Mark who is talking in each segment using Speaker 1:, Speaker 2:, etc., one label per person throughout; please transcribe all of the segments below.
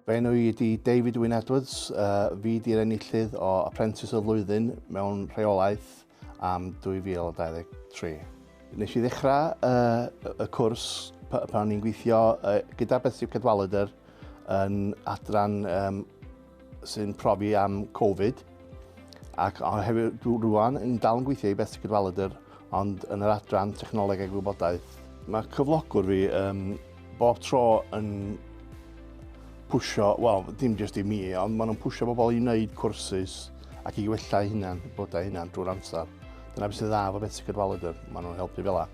Speaker 1: Fy enw i ydi David Wyn Edwards, uh, fi di'r enillydd o Apprentice y Flwyddyn mewn rheolaeth am 2023. Nes i ddechrau uh, y cwrs pan o'n i'n gweithio uh, gyda Betsy Cadwaladr yn adran um, sy'n profi am Covid ac hefyd rwan yn dal yn gweithio i Beth Sicr Faladr ond yn yr adran technoleg a gwybodaeth. Mae cyflogwr fi um, bob tro yn pwysio, wel, dim jyst i mi, ond maen nhw'n pwysio bobl i wneud cwrsus ac i wella hunan, bodau hunan drwy'r amser. Dyna beth sy'n dda fo beth sy'n cydwalydr, maen nhw'n helpu fel la.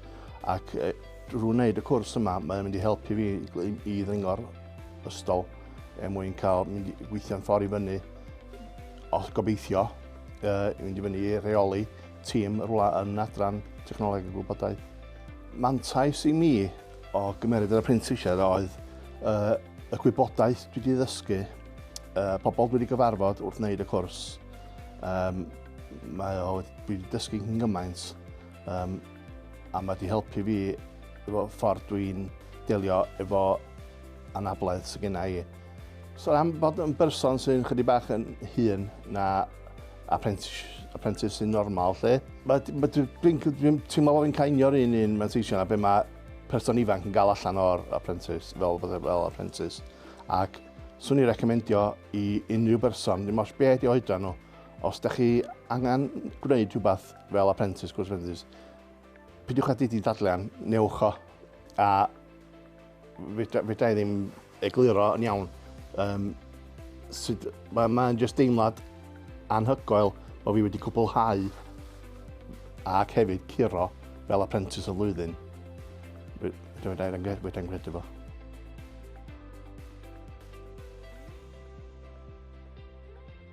Speaker 1: Ac e, drwy wneud y cwrs yma, mae'n mynd i helpu fi i, i ddyngo'r ystol. Er mwyn cael mynd i gweithio'n ffordd i fyny, os gobeithio, uh, mynd i fyny i reoli tîm rhywle yn adran technoleg y gwybodaeth. Mantais i mi o gymeryd yr apprentisiaid oedd uh, y gwybodaeth dwi wedi ddysgu, uh, pobl dwi wedi gyfarfod wrth wneud y cwrs. Um, mae o wedi dysgu yn gymaint um, A mae wedi helpu fi efo ffordd dwi'n delio efo anabledd sy'n gen i. So am bod yn berson sy'n chydig bach yn hun na apprentice, apprentice sy'n normal lle, mae, mae dwi'n dwi teimlo bod fi'n cainio'r un un manteision a be mae person ifanc yn gael allan o'r apprentice, fel, fel, fel apprentice. Ac swn i'n recomendio i unrhyw berson, dim os be ydi oedran nhw, Os da chi angen gwneud rhywbeth fel apprentice, gwrs apprentice, pidiwch â didi dadlian, newch o, a fydra i ddim egluro yn iawn. Um, sut, mae'n ma just deimlad anhygoel bod fi wedi cwblhau ac hefyd curo fel apprentice o flwyddyn. Rwy'n gwneud fo.